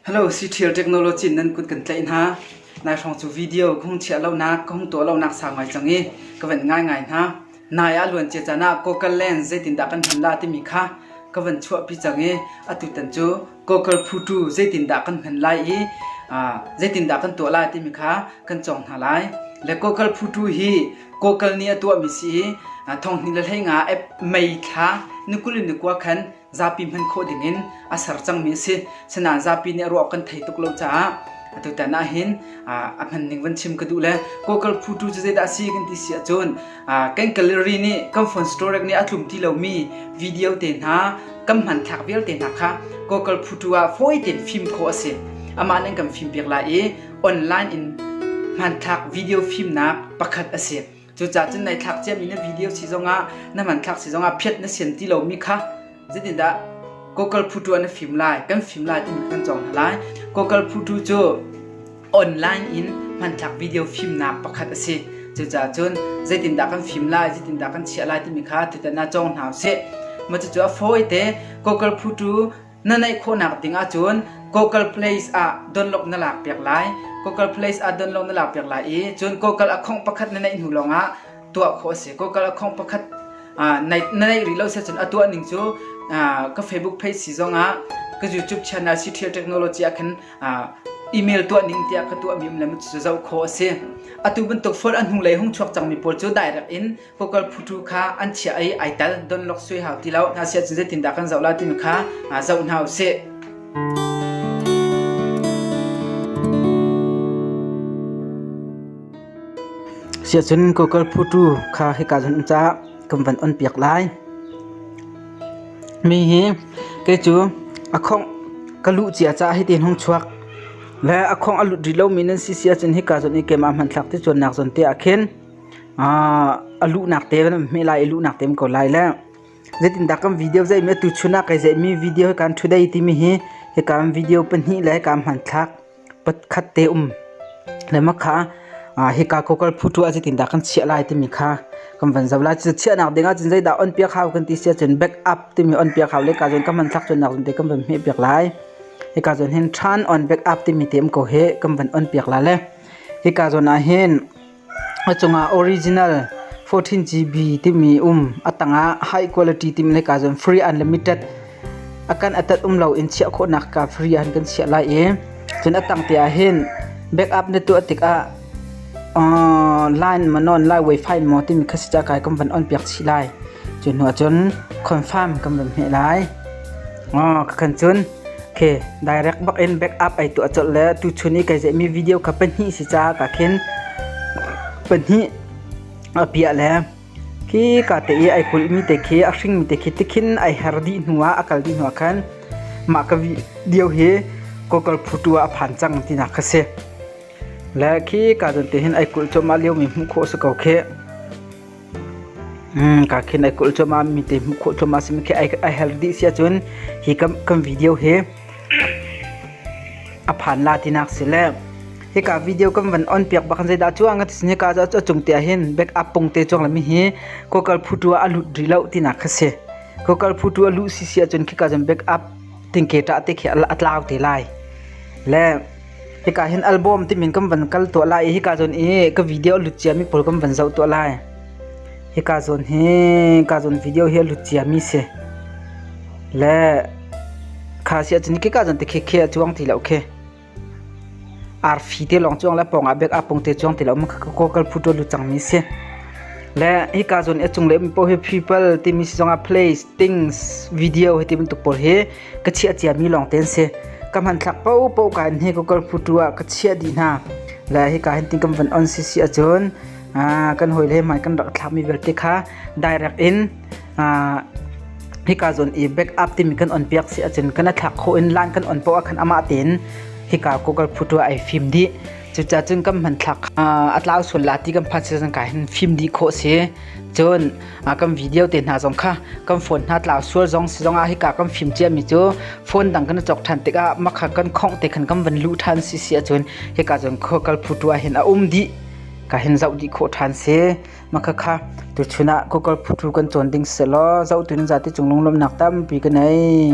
Hello Cṭhial Technology in nan kut kan tlaih hna. Nai hrawng cu video ka hung chiah lonak, ka hung tuah lonak sau ngai cang i ka van ngaingai hna. Nai ah luan cia caan ah Cocal Land zeitindah kan hman la timi kha ka van chuahpi cang i atutan cu Cocal Phutu zeitindah kan hman lai i zeitindah kan tuah lai timi kha kan cawng hna lai. Le Cocal Phutu hi Cocal nih a tuahmi si i thonghni le hleinga mei thla ni kul in ni kua khan zapi hman khawh dingin a ser cangmi a si. Sinain zapi nih a ruah kan thei tuk lo caah atutan ah hin a hman ning van chim ka duh le Kawkal phutu cu zeidah si kan ti si ahcun kan gallery nih kan phone storage nih a tlum ti lomi video te hna kan hman thlak vialte hna kha Kawkal phutu ah fawi tein fim khawh a si. Amah nih kan fim piak lai i online in hmanthlak video fimnak pakhat a si. Cucaah cun nai thlak ciami na video si zongah na hmanthlak si zongah phiat na sian ti lomi kha zeitindah Google Photo na fim lai kan fim lai timi kan cawng hna lai Google Photo cu online in hmanthlak video fimnak pakhat a si cucaah cun zeitindah kan fim lai zeitindah kan chiah lai timi kha tutana cawng hna usih macucu a fawi te Google Photo Na naih khawhnak ding ahcun Google Place ah download na lak piak lai. Google Place ah download na lak piak lai i cun Google account pakhat na neih hnu lawngah tuah khawh a si. Google account pakhat ah na neih rih lo seh cun a tuah ning cu ka Facebook page si zongah ka YouTube channel Cithial Technology ah khan email tuah ning tiah ka tuahmi um le cu zoh khawh a si. Atu bantuk phone a hnulei hung chuak cangmi pawl cu direct in vocal phutu kha an chiah i ai tel donlok sui hau ti lo na sia cu zeitindah kan zoh la timi kha zoh hna usih sia cun kokal phutu kha hika zun ca kan van on piak lai mi hi ke cu akhong kalu cia ca hi tin hong chuak le akhong alut ri lo mi nan si sia cun hika zun i kema man thlak ti chuan nak zon te akhin a luhnak te hme lai i luhnak te ko lai le zeitindah kan video zeimi atu chun ah kai zeimi video hi kan today timi hi hikan video pahnih le hikan hmanthlak pakhat te um lema kha hika kokal phutu ah zeitindah kan chiah lai timi kha kan van zau lai cu chiah nak ding ah cun zeidah on piak hau kan ti sia cun back up timi on piak hau le ka zon ka hmanthlak cun nak te kan van hme piak lai hika zon hin turn on back up timi tem ko he kan van on piak la le hika zon ah hin A cungah original fourteen GB timi um a tangah high quality timh le kaa cun free unlimited a kan atat um lo in chiah khawhnak kaa free han kan chiah lai i cun a tang te ah hin backup na tuah tikah uh, line mawn on lai wifi maw timi kha si ca kai kan van on piak chih lai cu hnu ah cun confirm kan van hmeh lai oh ka khan cun Okay, direct bak in backup ai tuah colh le tuchun i kai ceihmi video kha pahnih si caah ka khin pahnih a piah le khi ka te i ai kulhmi te khi a hringmi te khi tikhin ai her dih hnu ah a kal dih hnu ah khan mah ka video hi kokal phutu ah a phan cang tinak kha si le khi ka don te hin ai kulh chom ah liomi hmuh khawh si ko khi Mm, ka khin ai kulh cuma mi te hmuh khawh cuma simi khi ai ai hel dih sia cun hi kan kan video hi a phan la tinak si le hi ka video kan van on piak bak zei da chuang at sini ka za chung te hin back up pung te chuang lami hi kokal phutua a lut ri lo tina kha se kokal phutua lu si sia cun khi ka jam back up ting ke ta te khi atlaw te lai le Hika hin album timin kan van kal tuah lai i hika zawn i ka video lut ciami pawl kan van zoh tuah lai. Hika zawn hi hika zawn video hi a lut ciami si. Le kha si ahcun hika zawn te khekhe a cuang ti lo khi. Arfi te lawng cuang le pawngah bek apung te cuang ti lo ma ko kal phuto lut cangmi si. Le hika zawn i a cung le mi poh hi people timi si zongah place, things, video hi ti bantuk pawl hi ka chiah ciami lawng te an si ka hmanthlak popo ka in he ka kal phutu ah ka chiah dih hna la hi ka hin tin kan van on si si ahcun kan hoi le mai kan rak thlakmi vialte kha direct in hika zon i back up timi kan on piak si ahcun kan thlak kho in lan kan on po ah khan amah tein hika kokal phutu ai fim di cuca cun kan man thlak atlau sun lati kan phan season ka hin fim di kho si cun kan video te hna zong kha kan phone hna tlau sual zong si zong ah hika kan fim ciami cu phone dang kan chok ṭhan tikah makha kan khongh te khan kan van luh ṭhan si si ahcun hika cun khua kal phutu ah hin a um dih ka hin zoh dih khawh ṭhan si makha kha tuchun ah khua kal phutu kan cawn ding selaw zoh tun zate cung lunglawmnak tampi ka nei